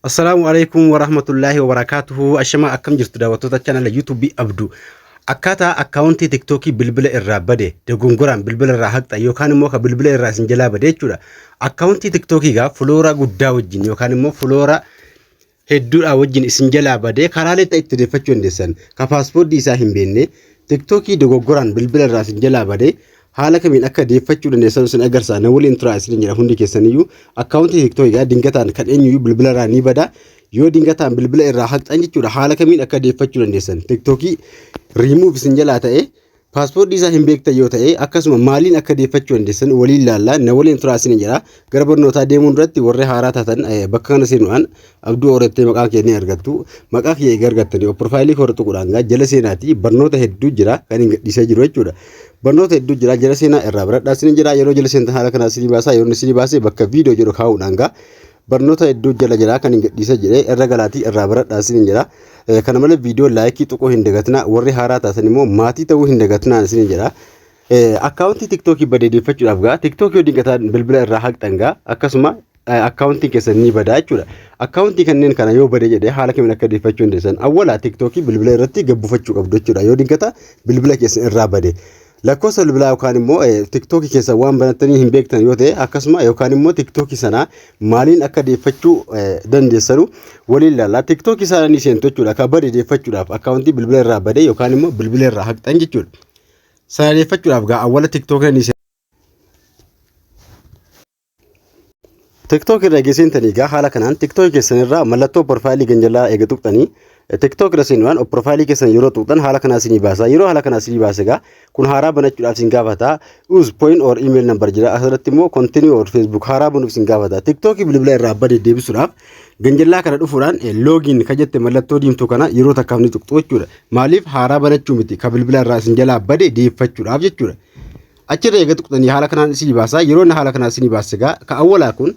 Assalaamu alaikum warahmatullaahi wabarakaatuhu. Ashamaa akkam jirtu daawwattoota chaanala YouTube Abdu. Akkaataa akkaawuntii TikTokii bilbila irraa bade dogongoraan bilbila irraa haqxa yookaan immoo ka bilbila irraa isin jalaa bade jechuudha. Akkaawuntii TikTokii gaa fuloora guddaa wajjin yookaan immoo fuloora hedduudhaa wajjin isin jalaa badee karaalee ta'e itti odeeffachuu dandeessan. Ka paaspoortii isaa hin beekne TikTokii dogoggoraan bilbila irraa isin jalaa badee Haala kamiin akka deeffachuu dandeessan isin agarsaa na waliin turaa isiniin jedha hundi keessaniyyuu akkaawuntii tiktookii gaa dingataan kan eenyuyyuu bilbila irraa ni bada yoo dingataan bilbila irraa haqxan jechuudha haala kamiin akka deeffachuu dandeessan tiktookii riimuuf isin jalaa ta'e paaspoortii isaa hin beektan yoo ta'e akkasuma maaliin akka deeffachuu dandeessan waliin laallaa na waliin turaa isiniin jedha Gara barnootaa deemuun duratti warri haaraa taatan eh, bakka kana seenuudhaan abduu horattee maqaa kee ni argattu. Maqaa kiyya egaa argattanii of piroofaayilii koo irra tuquudhaan egaa jala seenaati barnoota hedduu jira kan hin gadhiisee jiru jechuudha. Barnoota hedduu jira jala seenaa irraa baradhaa isin jira yeroo jala seentan haala kanaa isin baasaa yeroo isin baasee bakka viidiyoo jedhu kaa'uudhaan egaa barnoota hedduu jala jira kan hin gadhiisee jedhee irra galaatii irraa baradhaa isin jira. Eh, Kana malee viidiyoo laayikii tuquu hin dagatinaa warri haaraa taatan immoo maatii ta'uu hin dagatinaa isin jira. Akkaawuntii TikTokii bade deeffachuudhaaf gaa TikTok yoo dinqataan bilbila irraa haqxan gaa akkasuma akkaawuntiin keessan ni badaa jechuudha. Akkaawuntii kanneen kana yoo bade jedhee haala kamiin akka deeffachuu dandeessan awwala TikTokii bilbila irratti gabbufachuu qabdu jechuudha yoo dinqata bilbila keessan irraa bade. Lakkoofsa bilbilaa yookaan immoo TikTokii keessan waan banattanii hin beektan yoo ta'e akkasuma yookaan immoo TikTokii sana maaliin akka deeffachuu dandeessanu waliin ilaalla. TikTokii sana ni seentu jechuudha akka bade deeffachuudhaaf akkaawuntii bilbila irraa bade yookaan immoo bilbila irraa haqxan jechuudha. Sana deeffachuudhaaf gaa awwala tiktook inni seena. TikTok irra geessin tanii gaa haala kanaan TikTok keessan irraa mallattoo profaayilii ganjalaa eega tuqxanii TikTok irra seenuudhaan profaayilii keessan yeroo tuqxan haala kanaa isinii baasa yeroo haala kanaa isinii baase gaa kun haaraa banachuudhaaf isin gaafata us point or email number jira asirratti immoo continue or facebook haaraa banuuf isin gaafata TikTok bilbila irraa abbaa deddeebisuudhaaf Ganjallaa kana dhufuudhaan loogiin ka jette mallattoo diimtuu kana yeroo takkaaf ni tuqxu jechuudha. Maaliif haaraa banachuu miti ka bilbila irraa isin jalaa bade deeffachuudhaaf jechuudha. Achirra eega tuqxanii haala kanaan isinii baasaa yeroo inni haala kanaan isinii baase egaa ka awwalaa kun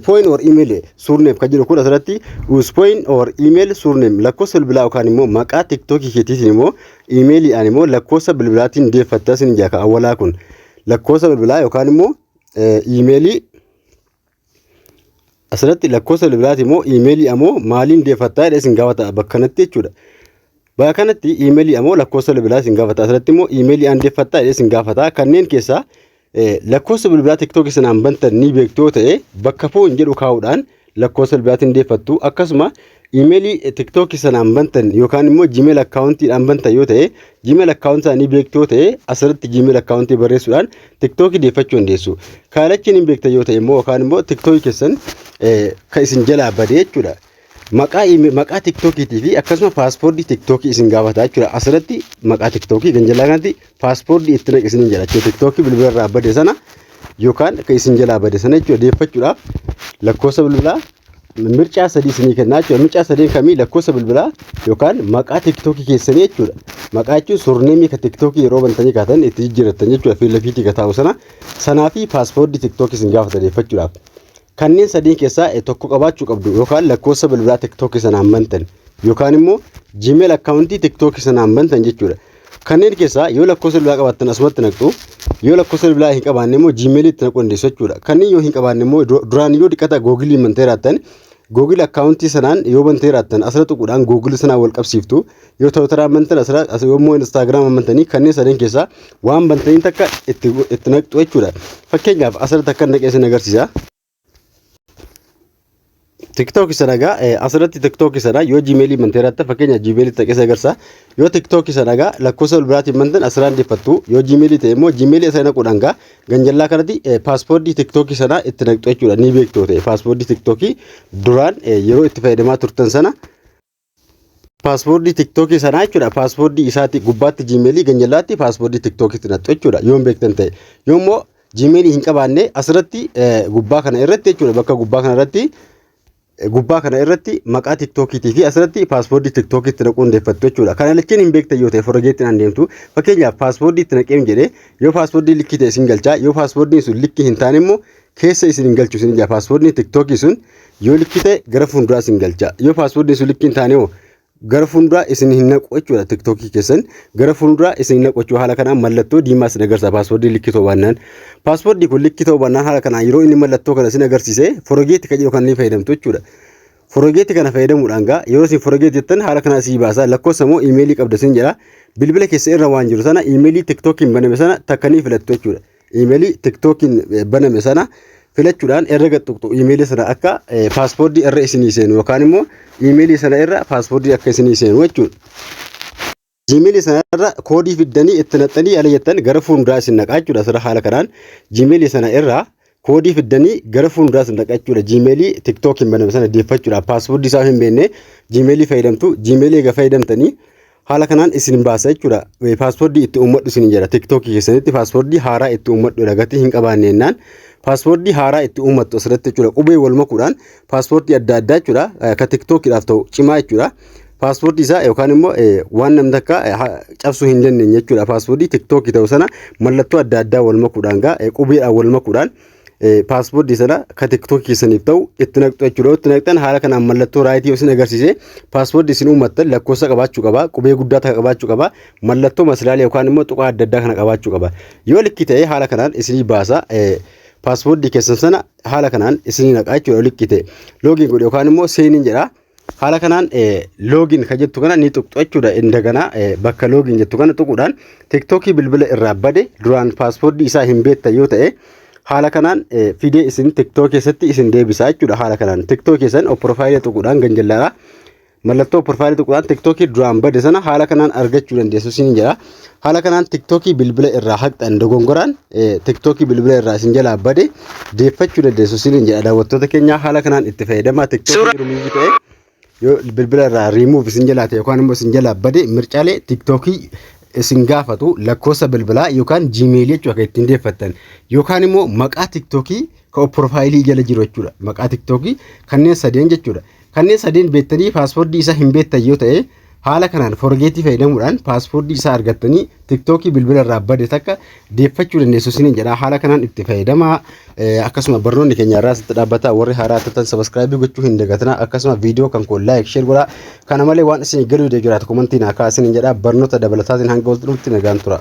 point or email surname ka jedhu kun asirratti us point or email surname lakkoofsa bilbilaa yookaan immoo maqaa tiktookii keetiitiin immoo imeeliidhaan immoo lakkoofsa bilbilaatiin deeffatta isin ijaa ka awwalaa kun lakkoofsa bilbilaa yookaan immoo imeelii Asirratti lakkoofsa bilbilaati immoo iimeelii ammoo maaliin deeffattaa jedhee isin gaafata bakka kanatti jechuudha. Bakka kanatti iimeelii ammoo lakkoofsa bilbilaa isin gaafata. Asirratti immoo iimeelii aan deeffattaa jedhee isin gaafata. Kanneen keessaa lakkoofsa bilbilaa tiktookii sanaan bantan ni beektu yoo ta'e bakka foon jedhu kaa'uudhaan lakkoofsa bilbilaatiin deeffattu akkasuma Imeelii TikTok sanaan bantan yookaan immoo Gmail akkaawuntiidhaan bantan yoo ta'e Gmail akkaawuntii isaanii beektu yoo ta'e asirratti Gmail akkaawuntii barreessuudhaan TikTok deeffachuu dandeessu. Kaalachiin hin beektan yoo ta'e immoo yookaan immoo TikTok keessan kan isin jalaa bade jechuudha. Maqaa maqaa TikTokiitii fi akkasuma paaspoortii TikTok isin gaafata jechuudha. Asirratti maqaa TikTok kan jalaa kanatti paaspoortii itti naqi isin jedha jechuudha. TikTok bilbila irraa bade sana yookaan kan isin jalaa bade sana jechuudha deeffachuudhaaf lakkoofsa bilbilaa mircaa sadii isinii kennaa jechuudha. Mircaa sadeen kamii lakkoofsa bilbilaa yookaan maqaa tiktookii keessanii jechuudha. Maqaa jechuun surneemii ka tiktookii yeroo bantanii kaatan itti jijjiirrattan jechuudha. Fiilla fiitii ka taa'u sana sanaa fi paaspoortii tiktookii isin gaafatan eeffachuudhaaf. Kanneen sadeen keessaa eh, tokko qabaachuu qabdu yookaan lakkoofsa bilbilaa tiktookii sanaan bantan yookaan immoo jiimeel akkaawuntii tiktookii sanaan bantan jechuudha. Kanneen keessaa yoo lakkoofsa bilbilaa qabaattan asumatti naqxu, yoo lakkoofsa bilbilaa hin qabaanne immoo Gmail itti naquu dandeessu jechuudha. Kanneen yoo hin qabaanne immoo du- duraan yoo diqqata Google bantee raattan, Google akkaawuntii sanaan yoo bantee raattan asirra tuquudhaan Google sanaan wal qabsiiftu, yoo Twitter bantan asirra, as yoo immoo Instagram bantanii kanneen sadeen keessaa waan bantaniin takka itti, itti naqxu jechuudha. Fakkeenyaaf asirratti akka naqee isin agarsiisa. TikTok sana egaa eh, asirratti TikTok sana yoo Gmail manteeraatti fakkeenya Gmail ta'e keessa agarsa. Yoo TikTok sana egaa lakkoofsa ol biraatiin mantan asirraa hin deeffattu. Yoo Gmail ta'e immoo Gmail isa hin godhan egaa ganjallaa kanatti eh, paaspoortii TikTok sana itti naqxu jechuudha ni beektu ta'e paaspoortii TikTok duraan eh, yeroo itti fayyadamaa turtan sana paaspoortii tiktookii sanaa jechuudha paaspoortii isaati gubbaatti jiimeelii ganjalaatti paaspoortii tiktookiitti naqxu jechuudha yoon beektan ta'e yoommoo jiimeelii hin qabaanne asirratti gubbaa kana irratti jechuudha bakka gubbaa kana irratti gubbaa kana irratti maqaa tiktookiitii fi asirratti paaspoortii tiktookiitti naquu hundeeffattu jechuudha kana lachiin hin beektan yoo ta'e forgeettiin aan deemtu fakkeenyaaf paaspoortii itti naqeem jedhee yoo paaspoortii likkii ta'e isin galchaa yoo paaspoortiin sun likkii hin taane immoo keessa isin hin galchu isin ija paaspoortiin tiktookii sun yoo likkii ta'e gara fuulduraa isin galcha yoo paaspoortiin sun likkii hin taane hoo gara fuulduraa isin hin naqu jechuudha tiktookii keessan gara fuulduraa isin hin naqu jechuudha haala kanaan mallattoo diimaa isin agarsiisa paaspoortiin likkii ta'uu baannaan paaspoortii kun likkii ta'uu baannaan haala kanaan yeroo inni mallattoo kana isin agarsiise forogeetti kan jedhu kan ni fayyadamtu jechuudha. Forogeetti kana fayyadamuudhaan gaa yeroo isin forogeetti jettan haala kanaa sii baasa lakkoofsa moo iimeelii qabda isin jedha bilbila keessa irra waan jiru sana iimeelii tiktookiin baname sana takka ni filattu jechuudha. Iimeelii TikTokiin baname sana filachuudhaan erga gad tuqxu iimeelii sana akka paaspoortii irra isinii seenu yookaan immoo iimeelii sana irra paaspoortii akka isinii seenu jechuudha. Jiimeelii sana irra koodii fiddanii itti naqxanii ala jettan gara fuulduraa isin naqaa jechuudha. Sirra haala kanaan jiimeelii sana irra koodii fiddanii gara fuulduraa isin naqaa jechuudha. Jiimeelii TikTokiin baname sana deeffachuudhaaf paaspoortii isaa hin beekne jiimeelii fayyadamtu jiimeelii egaa fayyadamtanii Haala kanaan isin baasa jechuudha. Paaspoortii itti uummadhu isin jedha. Tiktookii keessanitti paaspoortii haaraa itti uummadhu gatii hin qabaanne jennaan. Paaspoortii haaraa itti uummattu asirratti jechuudha. Qubee wal makuudhaan paaspoortii adda addaa jechuudha. Akka tiktookiidhaaf ta'u cimaa jechuudha. Paaspoortii isaa yookaan immoo waan namni takka cabsuu hin dandeenye jechuudha. Paaspoortii tiktookii ta'u sana mallattoo adda addaa wal makuudhaan gaa qubeedhaan wal makuudhaan paaspoortii sana ka tiktookii keessaniif ta'u itti naqxu jechuudha. Itti naqxan haala kanaan mallattoo raayitii isin agarsiise paaspoortii isin uummattan lakkoofsa qabaachuu qaba, qubee guddaa takka qabaachuu qaba, mallattoo masilaalee yookaan immoo tuqaa adda addaa kana qabaachuu qaba. Yoo likkii ta'e haala kanaan isinii baasa. Paaspoortii keessan sana haala kanaan isinii naqa jechuudha yoo likkii ta'e. Loogiin godhe yookaan immoo seeniin jedha. Haala kanaan loogiin kan jettu kana ni tuqxu jechuudha. Indagana bakka loogiin jettu kana tuquudhaan tiktookii bilbila irraa bade duraan paaspoortii isaa hin beektan yoo ta'e haala kanaan fidee isin tiktook keessatti isin deebisaa jechuudha. Haala kanaan tiktook keessan profaayilii tuquudhaan ganjallaadha. Mallattoo profaayilii tuquudhaan tiktookii duraan bade sana haala kanaan argachuu dandeessu siin jedha. Haala kanaan tiktookii bilbila irraa haqxan dogongoraan tiktookii bilbila irraa isin jalaa bade deeffachuu dandeessu isiniin jedha daawwattoota keenyaa haala kanaan itti fayyadamaa tiktookii rumiizii ta'e yoo bilbila irraa riimuuf isin jalaa ta'e yookaan immoo isin jalaa bade mircaalee tiktookii isin gaafatu lakkoofsa bilbilaa yookaan jiimeelii jechuudha kan ittiin deeffattan yookaan immoo maqaa tiktookii kan piroofaayilii jala jiru jechuudha maqaa tiktookii kanneen sadeen jechuudha kanneen sadeen beektanii paaswordii isaa hin beektan yoo ta'e Haala kanaan forgeetii fayyadamuudhaan paaspoortii isaa argattanii tiktookii bilbila irraa bade takka deeffachuu dandeessu isiniin jedha. Haala kanaan itti fayyadamaa akkasuma barnoonni keenya irraa sitti dhaabbata warri haaraa turtan sabaskiraayibii gochuu hin dagatinaa akkasuma viidiyoo kan koo laayik sheer godhaa. Kana malee waan isin galuu dee jiraatu komantii naa kaasiniin jedha barnoota dabalataatiin hanga wal dhufnutti nagaan tura.